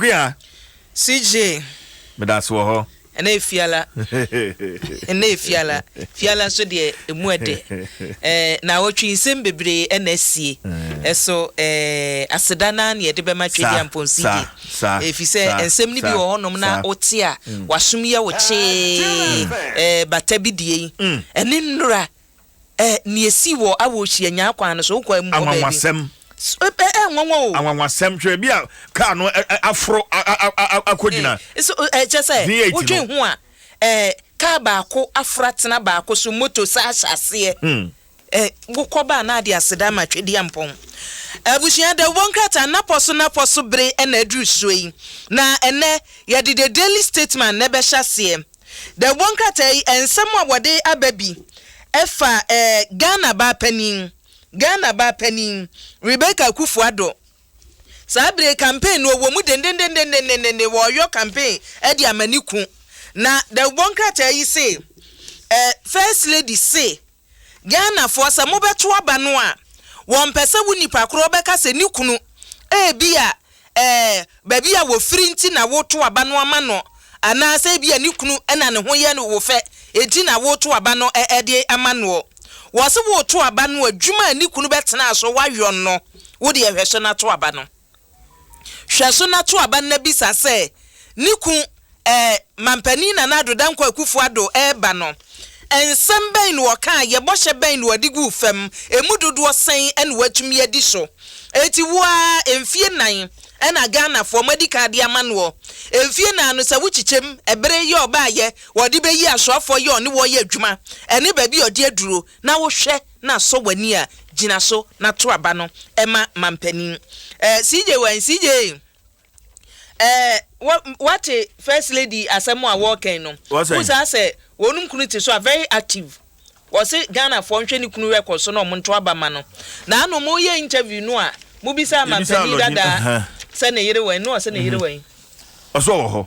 Kwea. CJ. Medase wɔ hɔ. Ɛnɛ yɛ Fiala. Ɛnɛ yɛ Fiala. Fiala nso deɛ emu ɛdɛ. Ɛɛ naawɔtwe nsɛm bebree ɛna asie. Ɛso ɛɛ aseda naa na yɛde bɛma Twedeɛ Ampong CJ. Efisɛ nsɛm no bi wɔ hɔnom na wote a wasom yɛ wo kyee. Ɛɛ bata bi deɛ yi. Ɛne nnora. Ɛ, nea esii wɔ Awoshie anyaa kwan no so, wokɔ ɛ, wokɔ baabi. Anwanwasɛm. S, ɛ, ɛ, ɛnwanwa o. Anwanwasɛm, hwɛ ebi a kaa no ɛ, ɛ, aforo a, a, a, a, akɔgyina. Ee, so, ɛ, kyerɛ sɛ, V8 no. wodwen ho a, ɛ, kaa baako aforo atena baako so, moto saa ahyɛ aseɛ. Hmm. Ɛ, wokɔ ba a na ade aseda ama Twedeampɔn. Abusua, dawubɔ nkrataa nnapɔ so nnapɔ so bere na aduru soɔ yi, na ɛnnɛ yɛde The Daily Statesman na ɛbɛhyɛ aseɛ. Dawubɔ nkrataa yi nsɛm a wɔde aba bi fa Ghana baa panin, Ghana baa panin Rebecca Akuffo Addo. Saa bere yi campaign no ɔwɔ mu dendendendendendenden, wɔreyɔ campaign de ama ne ku. Na dawubɔ nkrataa yi se, eh, First Lady se, Ghanafoɔ sɛ mobɛto aba no a, wɔmpɛ sɛ wo nipa korɔ bɛka sɛ ne kunu ebia ɛɛ baabi a wɔfiri nti na woreto aba no ama no anaasɛ ebia ne kunu na ne ho yɛ wo fɛ nti na woreto aba no de ama noɔ. Wɔse woreto aba no adwuma a ne kunu bɛtena so wayɔ no, wo deɛ hwɛ so na to aba no. Hwɛ so na to aba na bisa sɛ, Ne kun, ɛɛ, Mampanin Nana Addo Dankwa Akufo Addo reba no, nsɛm bɛn na ɔkaeɛ, bɔhyɛ bɛn na ɔde guu fam, ɛmu dodoɔ sɛn na watumi adi so? Enti wo ara, mfeɛ nnan na Ghanafoɔ moadi kan de ama noɔ. Mfeɛ nnan no, sɛ wokyekyɛm, ɛbere, yɛ ɔbaeɛ, ɔde bɛyi asɔfoɔ, yɛ ɔne wɔn yɛ adwuma, ɛne baabi a ɔde aduro, na wo hwɛ na asɔ w'ani a, gyina so na to aba no ma mampanin. Eh, CJ wine, CJ, eh, wo, woate First Lady asɛm a wɔɔkɛn no? Wohu saa sɛ wɔnom kunu te so a, very active. Wɔse Ghanafoɔ nhwɛ ne kunu record so na wɔn nto aba ma no. Na ano mo yɛ interview no a, mo bisaa mampanin dadaa sɛ ne yere wɛn, na ɔse ne yere wɛn. Ɔse ɔwɔ hɔ.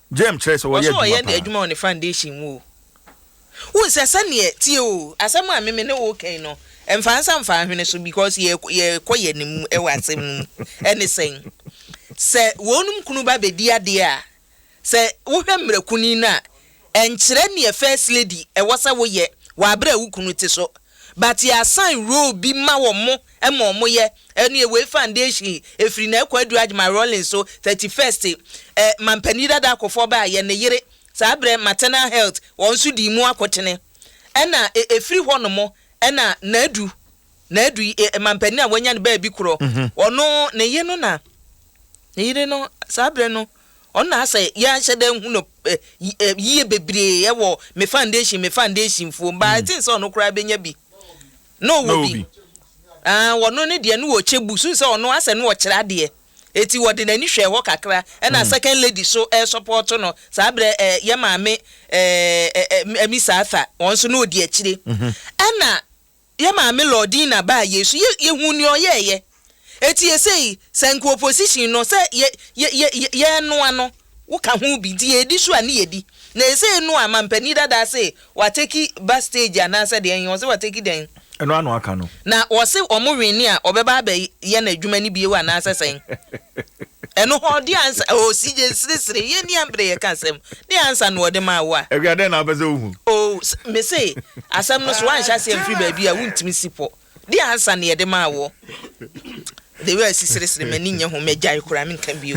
Jame kyerɛ sɛ wɔyɛ adwuma paa. Ɔso ɔyɛ adwuma wɔ ne foundation mu o. Wohu sɛ sɛdeɛ, tie o, asɛm a me me ne wo reka yi no, mfa nsa mfa nhwene so because yɛ yɛrekɔ yɛn anim wɔ asɛm no mu. Ɛne sɛn? Sɛ wɔnom kunu ba bɛdi adeɛ a, sɛ wohwɛ mmerɛ kuni no a, ɛnkyerɛ deɛ first lady ɛwɔ sɛ woyɛ wɔ aberɛ a wo kunu te so. But yɛasan role bi ma wɔn ma wɔyɛ. Ɛne wei foundation ɛfiri na ɛkɔ aduru adjma rolling so 31st ɛ mampanin dada akɔfɔ ba a yɛ ne yere saa berɛ maternal health wɔn nso dii mu akotene ɛna ɛ ɛfiri hɔ nom ɛna na adu na adu yi ɛ mampanin a wanya ne baa bi korɔ ɔno ne yere no na ne yere no saa berɛ no ɔno na asɛ yɛ ahyɛ dɛ hu no ɛ ɛ yie bebree ɛwɔ me foundation me foundation fuo but I think sɛ ɔno koraa bɛnya bi na ɔwɔ bi. Aah, ɔno ne deɛ no ɔkyɛ bu so sɛ ɔno asɛ no ɔkyerɛ adeɛ. Eti ɔde n'ani hwɛɛ hɔ kakra ɛna second lady so ɛresɔpɔɔto no. Saa berɛ ɛɛ yɛ maame ɛɛ Miss Arthur ɔno nso na ɔdi akyire. Ɛna yɛ maame Lordina baayɛ so yɛ yɛhuu nea ɔyɛɛyɛ. Etie sei, sɛ nka opposition no sɛ yɛ yɛ yɛ yɛ yɛnoa no wo ka ho bi nti yɛdi so a ne yɛdi na esei no a mampanin dadaa se wateki ba stage anaasɛ deɛn he ɔse wateki dɛn? Ɛno ano aka no. Na ɔse ɔmo wene a ɔbɛba abɛ yɛ no adwuma no bio anaasɛ sɛn? Ɛno hɔ deɛ ansa oh CJ seresere yɛ nni ambre yɛka asɛm deɛ ansa na ɔde maa wo a. Awia dɛn na wopɛ sɛ wohu? Oh mese asɛm no so wanhyɛ aseɛ mfiri baabi a wontumi si pɔ. Di ansa na yɛde maa wo. The way a esi seresere m'ani nyɛ ho mɛgyae koraa menka bio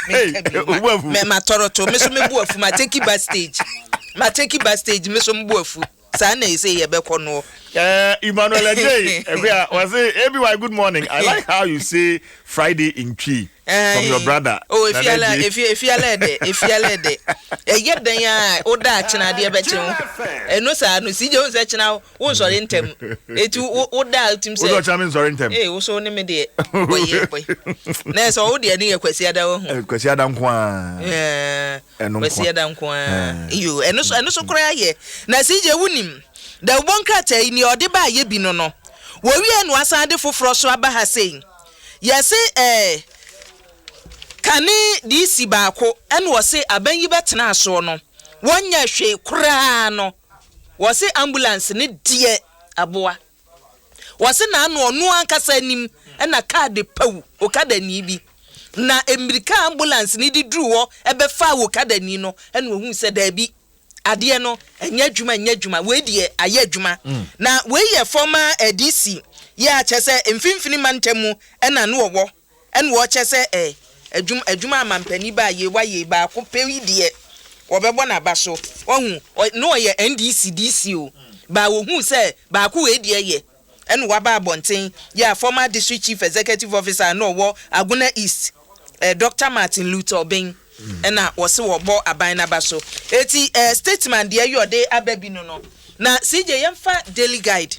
menka bio ma mɛ ma tɔrɔ to me so me bo afu ma take back stage ma take back stage me so me bo afu saa na ese yɛ bɛkɔ noɔ. Eh, Emmanuel Adjei, Ekuya, was it ABY good morning? I like how you say Friday in Twi. Eh, from your brother. Oh, if you are, if you if you are there, if you are there. Eh, yet then ya, o da china de be chen. Eh, no sa no si je on se china o sorry ntem. Eh, tu o da tim se. O china me sorry ntem. Eh, o so ni me de. Boy, ye boy. Na so o de ni ye kwesi ada o hu. Kwesi ada nko a. Eh, kwesi ada nko a. Yo, eh no so eh no so kra ye. Na si je wunim. Da ubon krata ni ode ba ye bi no no. Wo wi enu asan de foforo so aba ha sei. Yɛse ɛɛ kane DC baako ɛna wɔse aban yi bɛtenaa soɔ no wɔnyɛ hwee koraa no wɔse ambulance no deɛ aboa wɔse naano ɔno ankasa anim ɛna car de pawu okadani bi na mmirika ambulance no de duruu hɔ ɛbɛfaa okadani no ɛna ɔhuu sɛ daabi Adeɛ no nyɛ adwuma nyɛ adwuma wei deɛ ayɛ adwuma na wei yɛ fɔma ɛdisi yɛ a kyɛ sɛ mfinfini mantam mu ɛna no ɔwɔ ɛna ɔkyɛ sɛ ɛ adwuma adwuma amampani ba yɛ wa yɛ baako pɛ yi deɛ ɔbɛbɔ na ba so wahu ɔ no ɔyɛ NDC DC o ba ɔhu sɛ baako wei deɛ yɛ Ɛna waba abɔnten yɛ a former District Chief Executive Officer a na ɔwɔ Agona East, eh, Doctor Martin Luther Obeng na wɔse wɔbɔ aban no aba so. Eti eh, statement deɛ yi ɔde aba bi no no, na CJ yɛmfa Daily Guide.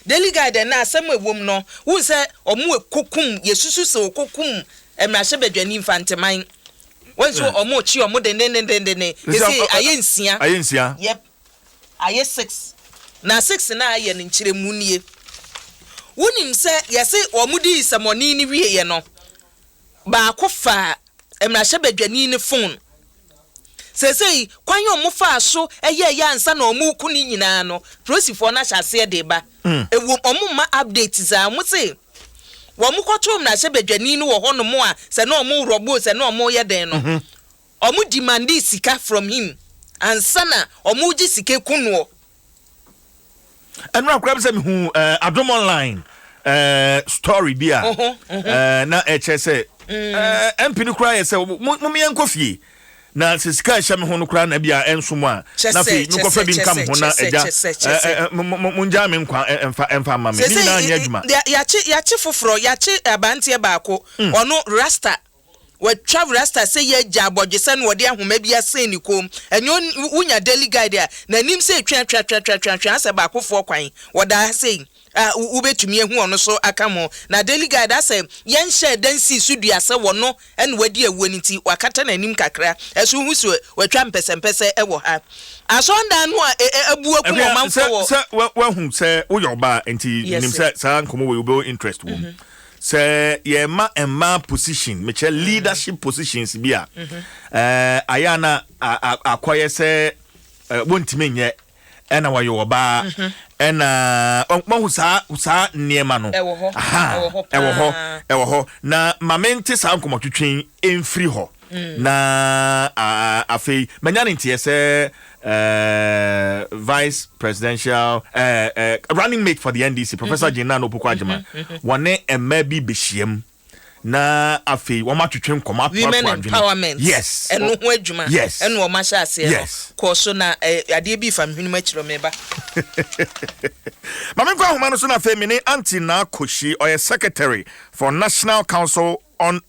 Daily Guide ɛnɛ asɛm a ɛwom no, wohu sɛ wɔn ɛkɔkum, yɛsusu sɛ wɔkɔkum mmarahyɛbadwani Mfanteman. Wɔn nso wɔn rekye wɔn dendendendenden, ɛsei ayɛ nsia. Ayɛ nsia. Yep. Ayɛ six. Na six no a ayɛ no nkyerɛmu nie. Wonim sɛ yɛse wɔdii nsɛmɔne no wieɛ no, baako faa mmarahyɛbadwani no fon. Seesei kwan a wɔfaa so yɛeɛ ansa na wɔreko no nyinaa no, polisifoɔ no ahyɛ aseɛ de reba. Ɛwom, wɔmma updates a, wɔse wɔkɔtoo mmarahyɛbadwani no wɔ hɔnom a sɛ na wɔrewrɔbo o, sɛ na wɔreyɛ dɛn no, Ɔmo demandee sika from him ansa na ɔmo gye sika ku noɔ. Ɛnora koraa sɛ mehu adom online story bi a na ɛkyɛ sɛ MP no koraa yɛ sɛ mo meyɛ nkɔ fie na sɛ sika ɛhyɛ me ho no koraa na bi a ɛnso mo a na afei mekɔ fɛ bi nka me ho na ɛgya mo ngyaa me nkwa ɛmfa mma me ne nyinaa nyɛ adwuma. Yɛakye foforɔ yɛakye abanteɛ baako ɔno rasta Watwa rasta sɛ yɛagya abɔdwesɛ na ɔde ahoma bi asen ne kɔn mu. Ɛnyɛ on wonya Daily Guide a, n'anim sei twe atwe atwe atwe atwe atwe asɛ baakofoɔ kwan. Ɔda ha sei a wo wobɛtumi ahu ɔno so aka ho. Na Daily Guide asɛ yɛnhyɛɛ da nsii so dua sɛ ɔno na wadi awuo no nti wakata n'anim kakra. Ɛso wohu sɛ watwa mpɛsɛmpɛsɛ wɔ ha. Asɔredan no a e e abu akum Ɛhwɛ ɔmanfoɔ sɛ wɔ. sɛ wa wahu sɛ woyɛ ɔbaa nti Yes menim sir. sɛ saa nkɔmmɔ wei wobɛwɔ interest wɔ mu. Sɛ yɛma mmaa position, mekyerɛ mm. leadership positions bi a, ɛɛ ayɛ a na akɔyɛ sɛ wɔntumi nyɛ ɛna wɔyɛ ɔbaa mhm. ɛna wɔhu saa saa nneɛma no ɛwɔ hɔ ɛwɔ hɔ ɛwɔ hɔ na maame nte saa nkɔmɔtwitwi mfiri hɔ. na afei manya ne nteɛ sɛ vice presidential running mate for the ndc professor mhm. gyenna no opoku agyema mhm, mhm. wɔne mmaa bi bɛhyiam na afei wɔn atwitwe nkɔmɔ ato ato adwene yes ɛno ho adwuma yes ɛna wɔn ahyɛ aseɛ no kɔɔ so na adeɛ bi fa mihwene mu akyerɛ mi ba. maame nkɔ ahoma no so na afei mi ne aunty na akoshi ɔyɛ secretary for national council on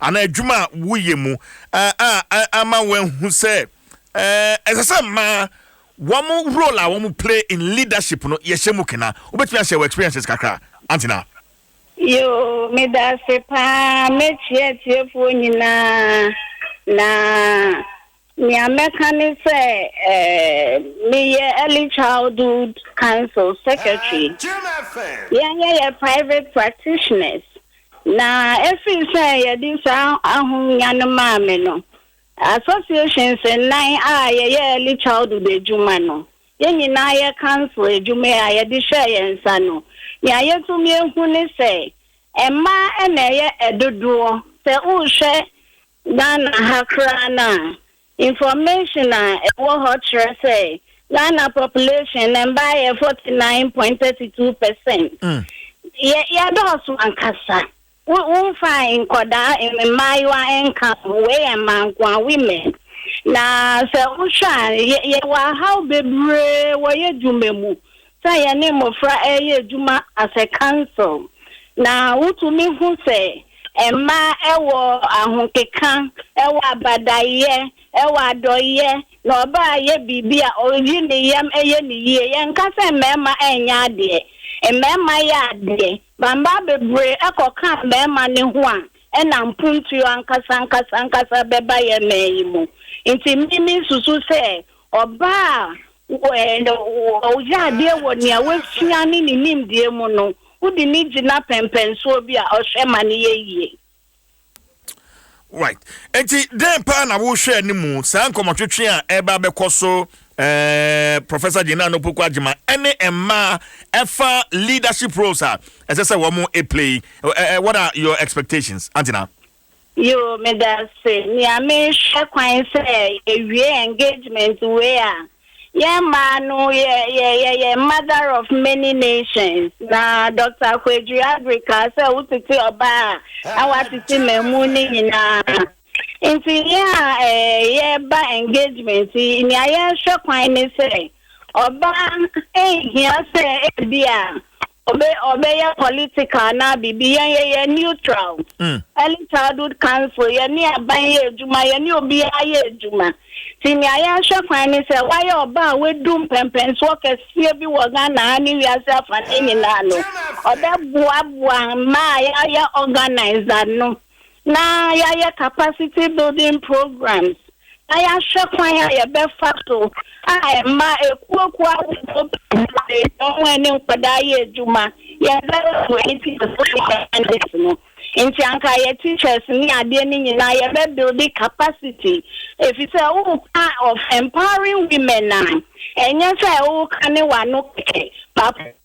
Anaa adwuma a woyɛ mu a ama wɔahu sɛ ɛsɛ sɛ mmaa wɔn role a wɔn play in leadership no yɛhyɛ mu kena. Wobɛtumi ahyɛ wɔ experiences kakra antina. Yoo, meda ase paa. Mɛkyia atiefoɔ nyinaa na. Nea mɛka ne sɛ meyɛ Early Childhood Council Secretary. Yɛnyɛ yɛ private practitioners, na ɛfiri sɛ yɛde saa ahonya no maa me no, associations nnan a yɛyɛ early childhood adwuma no, yɛn nyinaa yɛ council adwuma a yɛde hyɛɛ yɛn nsa no, nea yɛtumi ahu ne sɛ mmaa na ɛyɛ dodoɔ sɛ worehwɛ Ghana ha koraa no a, information a ɛwɔ hɔ kyerɛ sɛ Ghana population no mmaa yɛ forty nine point thirty two percent. Yɛ yɛdɔɔso ankasa. Wo womfa nkwadaa mmaayewa nka ho, wei yɛ mmaa nko ara, women. Na sɛ wohwɛ a yɛ yɛwɔ ahaw bebree wɔ yɛ dwuma mu. Sɛ yɛne mmofra reyɛ adwuma as a council na wotumi hu sɛ mmaa wɔ ahokeka, wɔ abadaeyɛ, wɔ adɔeyɛ, na ɔbaa yɛ biribi a oyi ne yam yɛ no yie. Yɛnka sɛ mmarima nyɛ adeɛ. Mmarima yɛ adeɛ. Mmaa bebree kɔka mmarima no ho a, ɛna mpuntuo ankasa ankasa ankasa bɛba yɛn man yi mu. Nti me me susu sɛ ɔbaa a Wogye adeɛ wɔ nea wasua ne ne nimdeɛ mu no, wode no gyina pɛmpɛnsoɔ bi a ɔhwɛ ma no yɛ yie. Right. Enti dɛn paa na wohwɛ anim saa nkɔmmɔtwetwe a ɛreba abɛkɔ so eh, Professor Gina Anopuku Agyema ɛne mmaa ɛfa leadership roles a ɛsɛ sɛ wɔn play. Eh, eh, what are your expectations, Antina? Yoo, meda ase. Nea mehwɛ kwan sɛ yɛwie engagement wei a, yɛn mmaa no yɛ yɛ yɛyɛ mother of many nations. Na Doctor Kwadu Abri kaa sɛ wotete ɔbaa a na watete mmamu no nyinaa. Nti yɛn a ɛɛ yɛreba engagement yi, nea yɛhwɛ kwan ne sɛ ɔbaa nhia sɛ ebia Ɔbɛ ɔbɛyɛ political anaa biribi yɛn yɛ yɛ neutral early childhood council yɛ ne aban yɛ adwuma yɛ ne obiara yɛ adwuma ti nea yɛn hwɛ kwan ne sɛ wayɛ ɔbaa a wadu mpɛmpɛnsoɔ kɛseɛ bi wɔ Ghana ha ne wiase afa ne nyinaa no ɔbɛ boa boa mmaa a yɛayɛ organize ano. na yɛayɛ capacity building programs, na yɛahwɛ kwan a yɛbɛfa so a ɛma akuokuo ahodoɔ bebree na wɔn ɛne nkwadaa yɛ adwuma. Yɛbɛyɛ wɔn ani ti sɛ no. Nti anka yɛ teachers ne adeɛ no nyinaa yɛbɛ build capacity. Ɛfiri sɛ woka of empowering women a, ɛnyɛ sɛ woka ne w'ano kɛkɛ.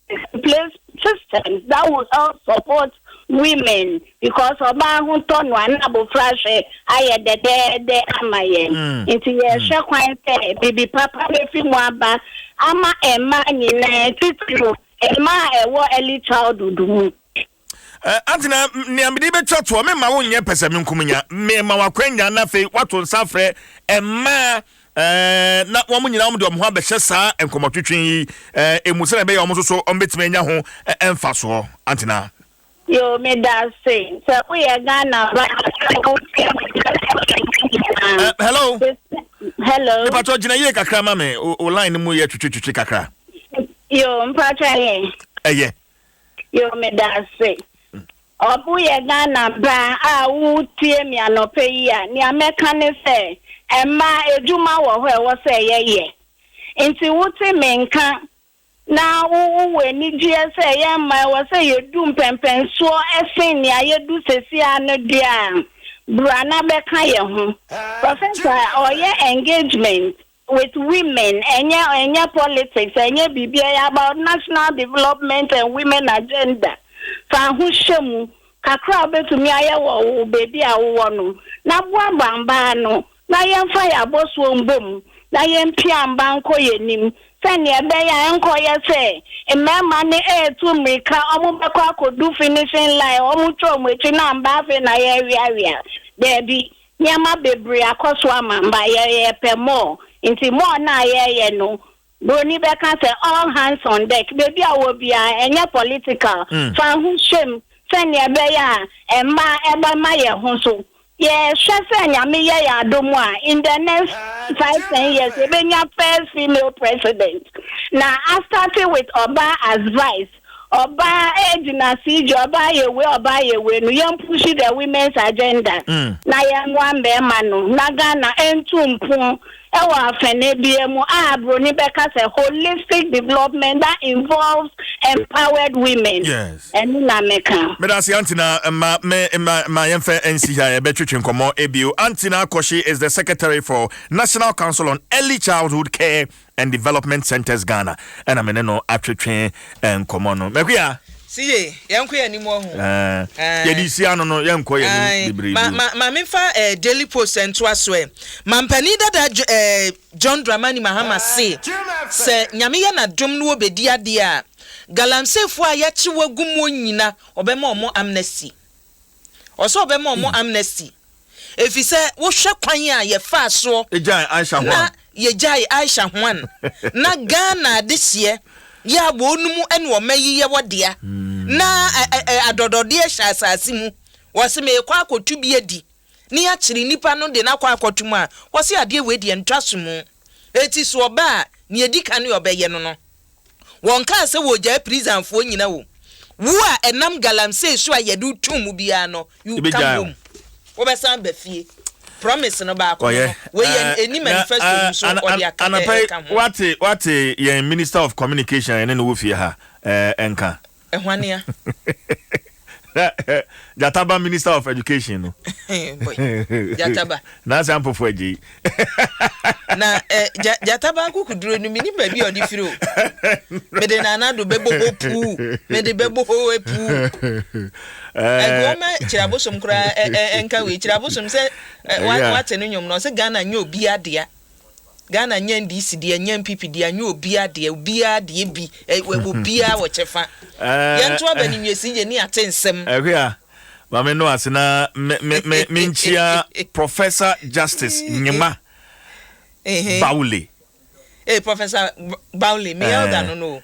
Put in place systems that will help support women because ɔbaa ho tɔ no a na abofra hwɛ ayɛ dɛdɛɛdɛ ama yɛn. Mm. Nti yɛhwɛ mm. kwan sɛ bibi papa befi mu aba ama mmaa nyinaa titiriw mmaa a ɛwɔ early childhood mu. Eh, Antena, nea mede bɛtwa toɔ, memma wo nyɛ pɛsɛmenkominya. Mema wakwannya na afei wato nsa afrɛ mmaa eh, na wɔn nyinaa wɔn de wɔn ho abɛhyɛ saa nkɔmmɔtwetwe yi eh, emu sɛdeɛ ɛbɛyɛ wɔn nso so wɔn bɛtumi anya ho eh, mfasoɔ. Antena. Yo, me da se. Sɛ woyɛ Ghana ba Eh, hello, Hello. mepatɔ gyina yie kakra ma me, o o line no mu yɛ twetwetwetwe kakra. Yo, mpacha ye. Ɛyɛ. Yo medase. Ɔbo yɛ Ghana baa a wo tie me anɔpa yi a nea mɛka ne sɛ mmaa adwuma wɔ hɔ ɛwɔ sɛ yɛ yɛ nti wo te me nka na wo wɔ anigyeɛ sɛ yɛ mmaa ɛwɔ sɛ yɛ du mpɛmpɛnsoɔ ɛsen nea yɛ du sɛsi ara no deɛ a bra na bɛka yɛ ho. Professor ɔyɛ engagement with women ɛnyɛ ɛnyɛ politics ɛnyɛ biribi ɛyɛ about national development and women agenda fa ho hyɛ mu kakra a wobɛtumi ayɛ wɔ wo baabi a wowɔ no na boaboa mbaa ano na yɛmfa yɛ abɔsoɔ mbɔ mu na yɛmpia mba nkɔ yɛn anim sɛnea ɛbɛyɛ a ɛnkɔyɛ sɛ mmarima no ɛretu mmirika wɔn bɛkɔ akɔdu finishing line wɔn twa wɔn akyi na mba afei na yɛreweawea daabi Nneɛma bebree akɔ so ama ma yɛpɛ more, nti more no a yɛyɛ no, Buroni bɛka sɛ all hands on deck, baabi a ɔwɔ biara, ɛnyɛ political, fa ho hyɛ mu sɛnea ɛbɛyɛ a ɛmma ɛbɛma yɛn ho so. Yɛhwɛ sɛ Nyame yɛ yɛn adom a, in the next five, ten years, yɛbɛnya first female president, na a start with ɔbaa as vice. ɔbaa ɛyɛ gyinasi dzi ɔbaa yɛ wei ɔbaa yɛ wei no yɛn pushi the women's agenda mm. na yɛn moa mbɛɛma no na ghana ɛntu mpon ɛwɔ afɛnɛ bia mu a broni bɛka sɛ holistic development that involves empowered women yes ɛno na meka medase antina ma me ma ma yɛn fɛ nsi ha yɛbɛtwetwe nkɔmɔ ebio antina akɔhye is the secretary for national council on early childhood care and Development Centres Ghana ɛna me ne no atwetwe nkɔmmɔ no. Makuya! Si yie, yɛnkɔ yɛn anim ɔho. Ɛɛ, yɛde si ano no, yɛnkɔ yɛn anim bebree bio. Ma, ma, ma memfa ɛɛ Daily Post ntoa so ɛ. Mampanin dada Dj, ɛɛ John Dramani Mahama se, sɛ Nyame yɛ n'adom na wɔbɛdi adeɛ a, Galamseyfoɔ a yɛakye wɔn agu muo nyina, wɔbɛma wɔn amnesty. Ɔsɛ sɛ ɔbɛma wɔn amnesty efisɛ wohwɛ kwan a yɛfaa soɔ na yɛgyae Aisha Juan na Ghana adehyeɛ yɛ a wɔnom ne ɔma yi yɛ wɔ dea na adɔdɔdeɛ hyɛ asase mu. Ɔse meekɔ akɔtu bi adi. ne akyere nipa no de no akɔ akɔto mu a, wɔse adeɛ wei deɛ ntwa so mu. Eti so ɔba a, nea edi kan ne ɔbɛyɛ no no. Wɔnkaa sɛ wɔregyae Prizanfoɔ nyina o. Wo a ɛnam galamsey so a yɛde wo too mu biara no, you come home. Wobɛsan aba fie. Promise no baako no no, wei yɛ ɛnni manifesto no so ɔde aka ɛka ho. Anapa yi, woate yɛn Minister of Communication a yɛne no wɔ fie ha nka? Ɛhwanea. Na eh, Gyataba Minister of Education no. Gyataba. Nansi Ampofo Agyei. Na eh, Gyataba akokuduro no menim baabi a ɔde firi o. Mede nana do bɛbɔ hɔ puu. Mede bɛbɔ hɔ eh, puu. Eh. Ɛgoɔma kyirabosom koraa ɛnka wei. Kyirabosom sɛ wate no nnwom no ɔsɛ Ghana nyɛ obi adea. Ghana nyɛ NDC dea, nyɛ NPP dea, nyɛ obia dea, obia deɛ bi, ɛwɔ obia wɔ kyɛfa. Yɛn nto aba ne nwiesi yɛn ni ate nsɛm. Ɛhwɛ a, ma me no ase na me me me me nkyia Professor Justice Nyema Bawule. Ee Professor Bawule, me elder no no o.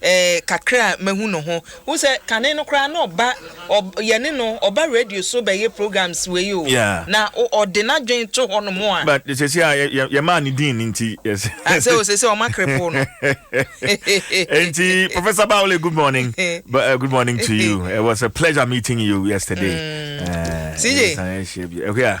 Eh, kakra a mahu no ho. Wohu sɛ kane no koraa na ɔba, ɔ, yɛne no, ɔba radio so bɛyɛ programs wei o, Yeah. na o, ɔde n'adwene to hɔnom a. But sɛsi a yɛ, yɛ, yɛmaa no din nti, yɛs. Ah, sɛ o, sɛsi a ɔma krepoo no. Enti, Professor Bawule, good morning. But, uh, good morning to you. It was a pleasure meeting you yesterday. Mm. Eh, CJ. Yes, I share you. Eh, yeah.